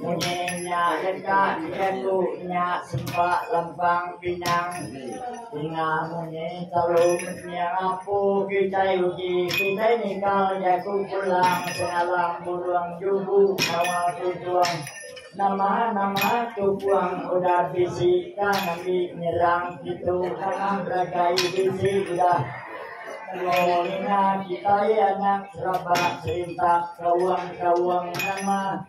Munyi nya deka dijaku nya sempa lempang pinang ninga munyi telu meniang apu kitai uji kitai nikal jaku pulang sengalang burung jubu ngawa tutung nama-nama tutung udah bisi ka ngembi nyerang ditu tanah belagai bisi udah telo ninga kitai anak serabak serintap kaung-kaung nama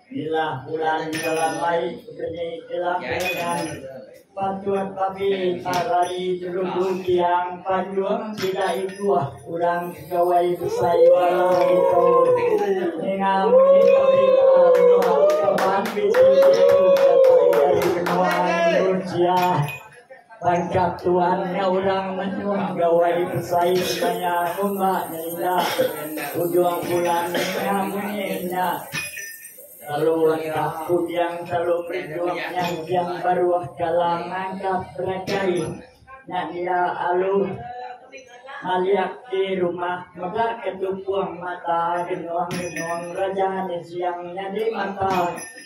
Bilah bulan Jalamai keni ila keningan Panjut babi tarari telugu tiang panjut sida ikuh urang kegawai besai bala ditu ninga muni berita menua kaban bisi ditu datai ari menua Indonesia. Baka tuan nya orang menua Gawai besai maya ngumba nya ila ujung bulan nya munyi nya telu engkah kujang telu berinduh nyanjang baruh kalang nangkap beragai nya dia alu maliak di rumah mega ke tukuh mata genong genong raja nisiang nyadi mata.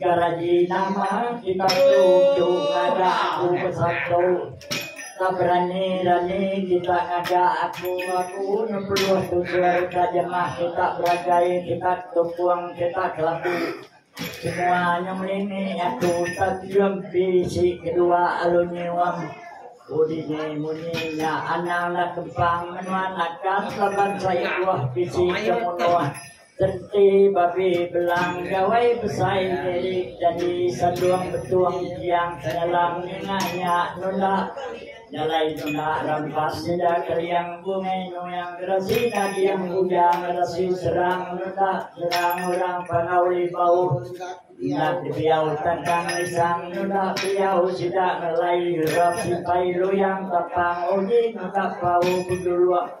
Garaji nama kita tuju ngaga aku bersatu. Tak berani-rani kita ngaga aku aku ngepeluh tutur ka jemah kita beragai kita tukung kita kelabu. Semua nya melini aku tak kium bisi kedua alu nyium. Udini munyi nya anang nak kempang menua nakal laban saya buah bisi kemunuh. Tenti babi belang gawai besai diri jadi sandung betung tiang penyalang ninga nya nunda jalai nunda rampas sida kering bungi nuing gerasi nading uja ngerasi serang nunda serang orang pangawi bauh enda kebiau tandang lisang nunda biau sida ngelai rap sipai luyang tapang uji nunda pau penjuluk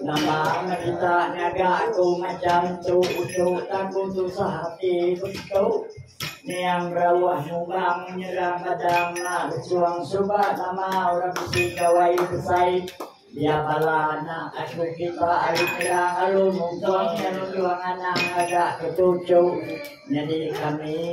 Nama amat kita ngaga aku macam tu Ucu taku susah hati betu Niang berawah nyumbang nyerang badang Nak berjuang suba nama orang besi gawai besai Dia bala anak aku kita ari nyerang Lalu mungkong nyerang juang anak ngaga ketucu Nyadi kami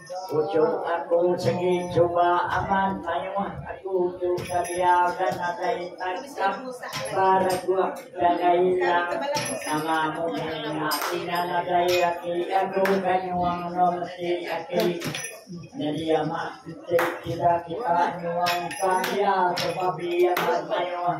Puchuk aku segi cuba amat mayuh aku tu ka biar ka nadai tangkap baraguh jaga ilang nama mungkin ati na nadai ati aku ka nyuang no mesti ati jadi amat kita kita nyuang ka biar sebab biar mayuh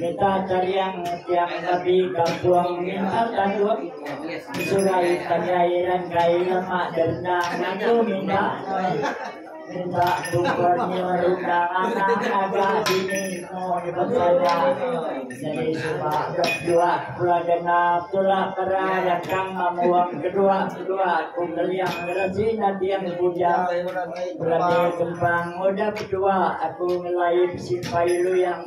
Mita Cariang setia mengabdi kampung Mintar Tanduk Sungai Tanjai dan kai lemak denda ngaku minda minta gubernur ruka anak agak dini mau dipercaya jadi suka berdua pula kena tulak kera dan kang mamuang kedua kedua kumbeliang kerasi nanti yang puja berani kembang muda kedua aku ngelai simpai lu yang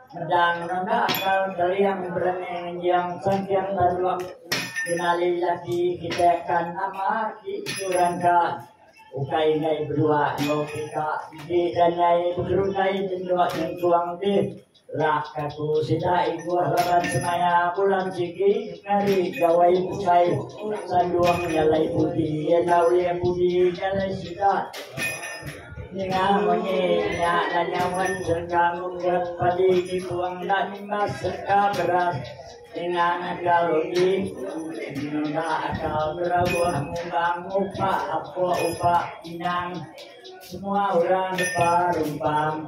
Medang nunda akal Geliang berani ngenjing Sengking Baruh Kenali laki kite Kan nama aki sekurang ka Ukai enggai bedua Enggau pika enti enda nyai Begeruntai tenduk nyengkung dih Lak kaku sida Ibuh laban semaya Bulan sigi ngeri Gawai bukai Sandung nyalai pudi Enda ulih pudi Nyalai sida Ninga munyi nya enda nyaun serka munggut padi dibuang enda nimbas serka beras ninga ngagal uji nunda akal berauh ngumbang ngupak apuk upak inang semua orang depa rumpang.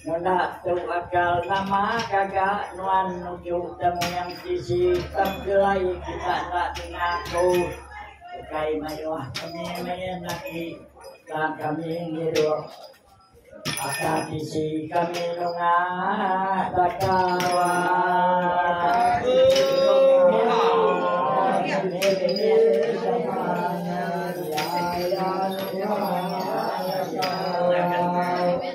Ngena tu akal nama gaga nuan nuju temu nyam sisi penggelai kita enda kena ku ukai mayuh kami main agi ka kami ngirup aka sisi kami nunga taka wan.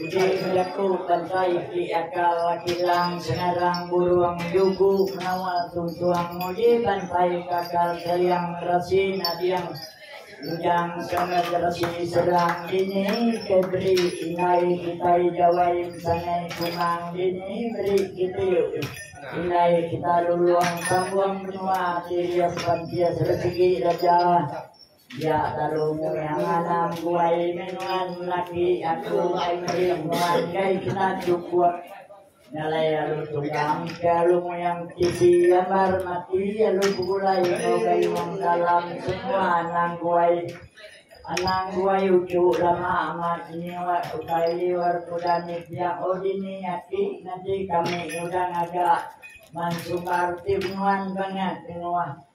Udah nya jaku bantai ti aka Wak Kilang Sengarang Burung Yugu menawa tuntung nguji bantai kakal Seliang Resi Nading Ujang Sangat Resi Serang Dini ke beri indai kitai Jawai Ensangai Kumang Dini beri kiti indai kita Lulong Tambung Menua Ati Rias Pantias Resegi Raja. Dia lalu murah nganang buai menuan laki aku ai meri nuan gai kena cukup nyalai lalu tunggang ke alu muyang tisi ambar mati alu begulai enggau gai wang dalam semua anang guai anang guai uchu lama amat nyiwa utai liur kuda ni piak oh dini aki ngaji kami udah ngaga mansumbar ti menuan bangat menua.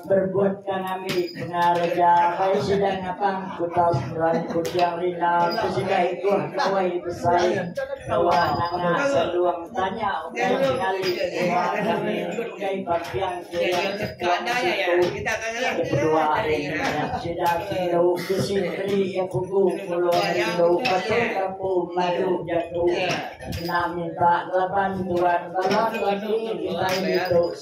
Berbuat ka ngambi pengar aja bai sida ngapang kutas meran kuching rina ke sida ikuh Nuai Besai kewa nanga Selung tanya ukai pengali kewa kami ukai bampiang kiring sekong siku ke kedua ari ngingat sida kindu ke si beri iya pugu puluh rindu patu kapu madu jaku kena minta laban tuan bala tuan ni kitai ditu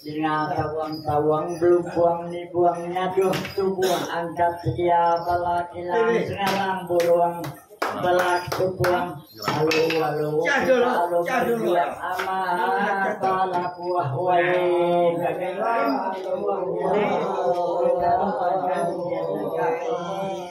Nya tawang tawang belumpung nibuang nyaduh tubuh angkat sedia bala kilang sengalang burung belah tubuh alu alu kita alu mendiang amat bala buah wae daging alu alu kita alu mendiang amat.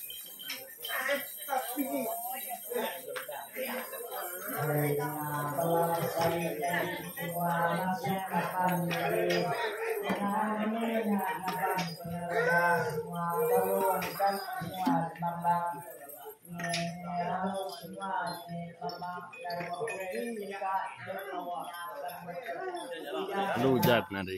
Lalu ujan ari.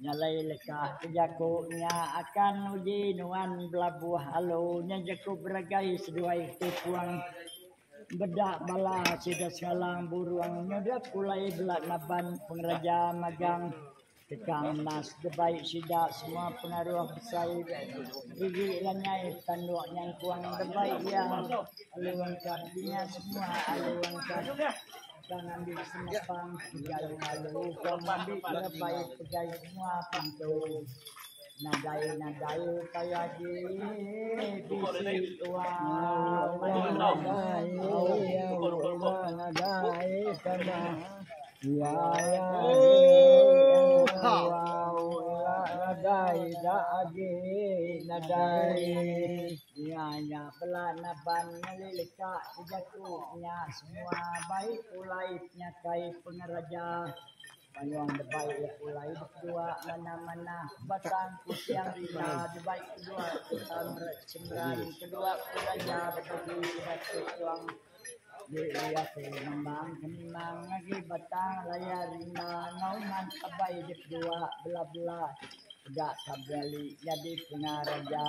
Nyalai leka ke jaku nya akan uji nuan belabuh alu nya jaku beragai seduai ti puang beda bala sida sekalang burung nyudup pulai bela naban pengereja magang. Deka ngendas debai sida semua pengaruh besai Riri ila nyai petanduk nyangkung debai iya alu engka dinya semua alu engka engka ngambi senepang pegai alu engka ngambi debai pegai semua pentu. Nadai-nadai kai agi bisi uang nadai uang nadai kena ya ya nadai da agi nadai ya ya bela naban leleka jatuh nya semua baik ulai nya kai pengeraja Manyuang debai iya pulai bekua manah-manah batang kuching rima debai kedua sereta mera chemran kedua pelajar betubi sida ti kuang di iya tu memang senang agi batang laya rima enggau man abai di kedua bela-bela peda ka beli nyadi pengareja.